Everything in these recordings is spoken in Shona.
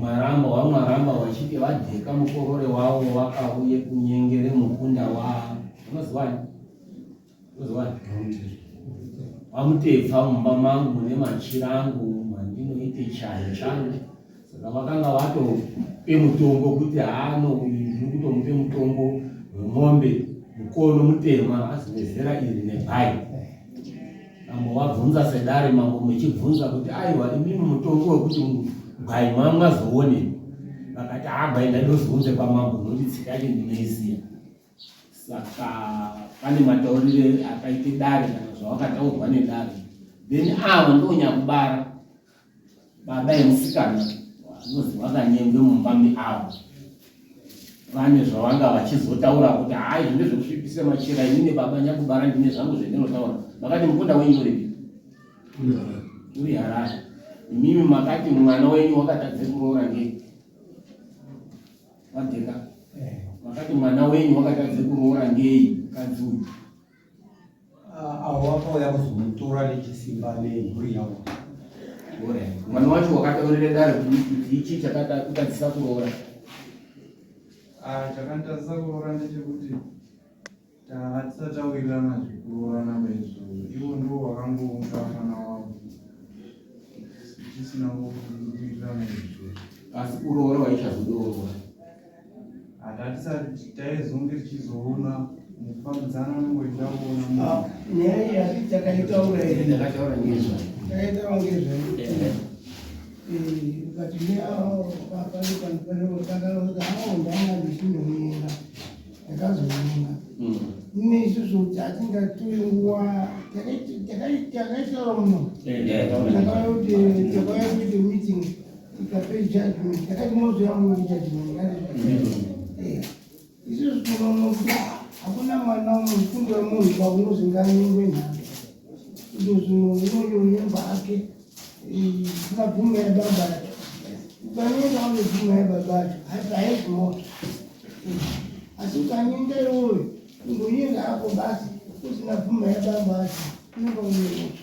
Mwaramba waMwaramba wachiti vadheka mukorore wavo wakauye kunyengere mukunda wavo unozivani unozivani vamutepfa mumba mangu mune machira angu mandinoite chayo changu saka vakanga vatope mutongo kuti haano uyu ndiri kutomupe mutongo wemombe mukono mutema azivezera iri nebhayi Ambovabvunza sedare mambo muchibvunza kuti aiwa imimi mutongo wekuti gwai mamwa zoonei vakati hagwai ndaidozounze kwamambo nokuti tsika yacho ndinoiziya saka pane mataurire akaite dare kana zvawakataurwa nedare then ava ndonyakubara baba emusikana vanozi vakanyengwe mumba meavo vane zvavanga vachizotaura kuti hai zvine zvekusvipisa machira ini nebaba nyakubara ndine zvangu zvendinotaura makati mukunda wenyu uripi uri harare imimi makati mwana wenyu wakatadze kuroora ngei vadheka eh. makati mwana wenyu wakatadze kuroora ngei mukadzi uyu avo vakauya kuzomutora nechisimba nemhuri yavo mwana wacho wakataurira dare kuti ichi chakatadzisa kuroora chakatadzisa kuroora ndechekuti tahatisati tawirirana zvekuroorana maizvo ivo ndo vakangounga mwana wavo tisina kuwirirana izvo asi kuroora waichazodoorora hatatisati taizonge tichizoona mukufambidzana nongoitaona ah, nyaya iyi hati takaitaura ndakataura ngezvayo takaitaura ngezvayo ukati neaoapanepanipanotakaaoa ndanga ndichinomuenda ndakazomuenda ine isusu kuti hatingatore nguva takaitaura muno takauya kuite meeting izvozvo tinoona kuti hakuna mwana mufundo wemunhu paunozinganyengwe nhaka izvo zvino unoyo nyemba ake sinabvume yababa yake ukanyenga unebvume yababa yake hati haezi moto asi ukanyenga iwoyo ungonyenga ako basi usina bvume yababa yake unenge unemoto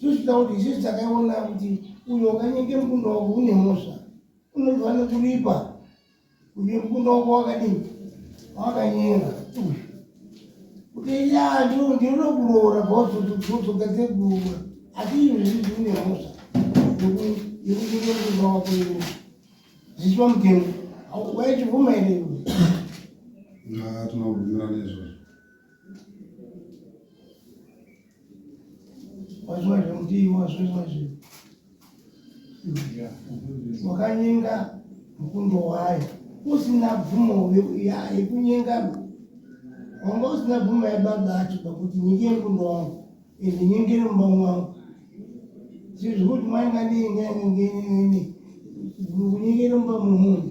Zvichita kuti isusu takaiona kuti uyo wakanyenge mukunda wako une mhosva unofanira kuripa kuti mukunda wako wakadini wakanyenga kuti ya ndinoda kuroora bhozodzoka dzegurwa asi izvo zvizi une mhosva yekunyenge mukunda wako iwe zvichiva mutemo waitibvuma here iwe tinobvumirana izvozvo wazviwazve mudii wazviwazve wakanyenga mukundo wayo usina bvumo yekunyenga wanga usina bvumo yababa acho pakuti nyenge mukundo wangu ende nyengere mumba mwangu zizvikuti mwainga ndii nganyengenyenene kunyengere mumba mwemunhu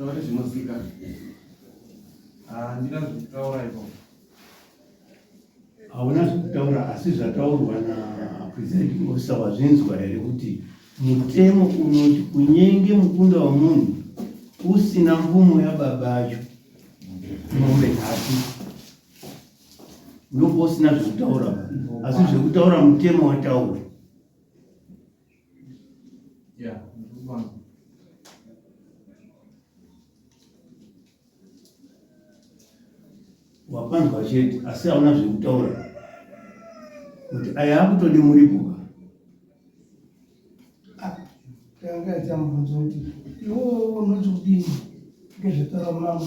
taure zvinosika handina ah, zvekutaura ipo hauna zvekutaura asi zvataurwa napresiding officer wazvinzwa here kuti mutemo unoti kunyenge mukunda wemunhu usina mvumo yababa acho mombe nhatu ndobva usina zvekutaura asi zvekutaura mutemo wataura wapanzwa chete asi hauna zvekutaura kuti aya akutode muripo tanga aita mubvunzo kuti iwo unoti kudini ngezvetaura mambo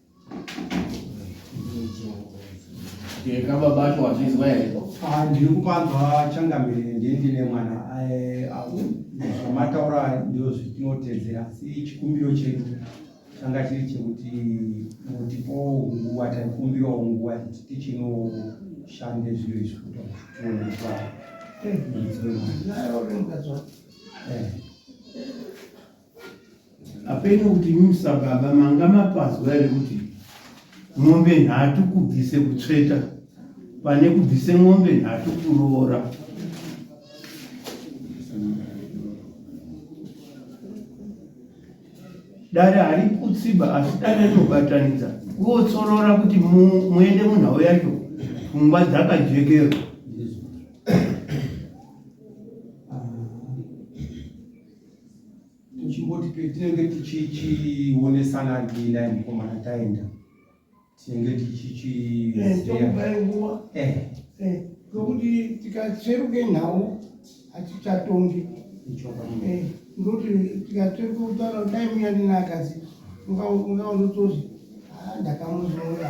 Yeka baba acho wazvizwa here? Ah, ndiri kupanzwa changamire ndiende nemwana eh, zvamataura ndizvo zvitinotedzera asi chikumbiro chedu changa chiri chekuti mutipowo nguva taikumbirawo nguva kuti tichinoshande zviro izvi kuti tione kuti apeno kuti imi musababa manga mapazwa here kuti mombe nhatu kubvise kutsveta pane kubvise mombe nhatu kuroora dare hari kutsiba asi dare rinobatanidza kuotsorora kuti muende munhau yacho pfungwa dzakajekerwa tichingoti petinenge tichichionesana ndiina mukomana taenda tinenge tichichiuvaenguva eh, eh. eh, nokuti tikatsveruke nhau hatichatongi ndoti tikatsveruke kutaura dai muya ndina akazi ungaondotozi ah, ndakamuzora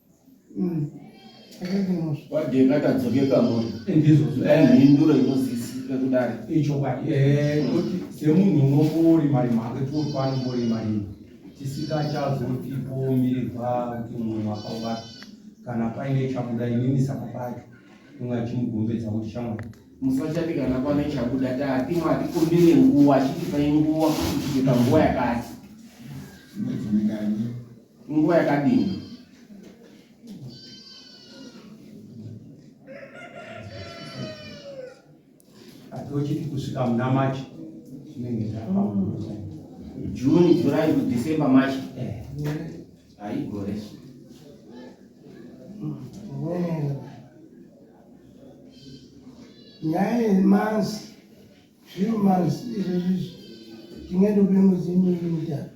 wadye ngatadzoke kamuri mhinduro inozisika kudari ichokwadi semunhu unongori mari make tiopanongori mari tisikachazotipomirirwa kuti mumwe mwaka ubata kana paine chabuda inini saka pacho kunga chimugombedza kuti shamwari musachati kana pane chabuda tati mwatikumbire nguwa chitipai nguwa kuti tiite panguwa yakati Inguva yakadini? Atochiti kusvika muna March chinenge chapa June, July to December, March. Eh. Haigore. Nyaya yemanzi zviri manzi izvezvi tinge topemudzi miri mutatu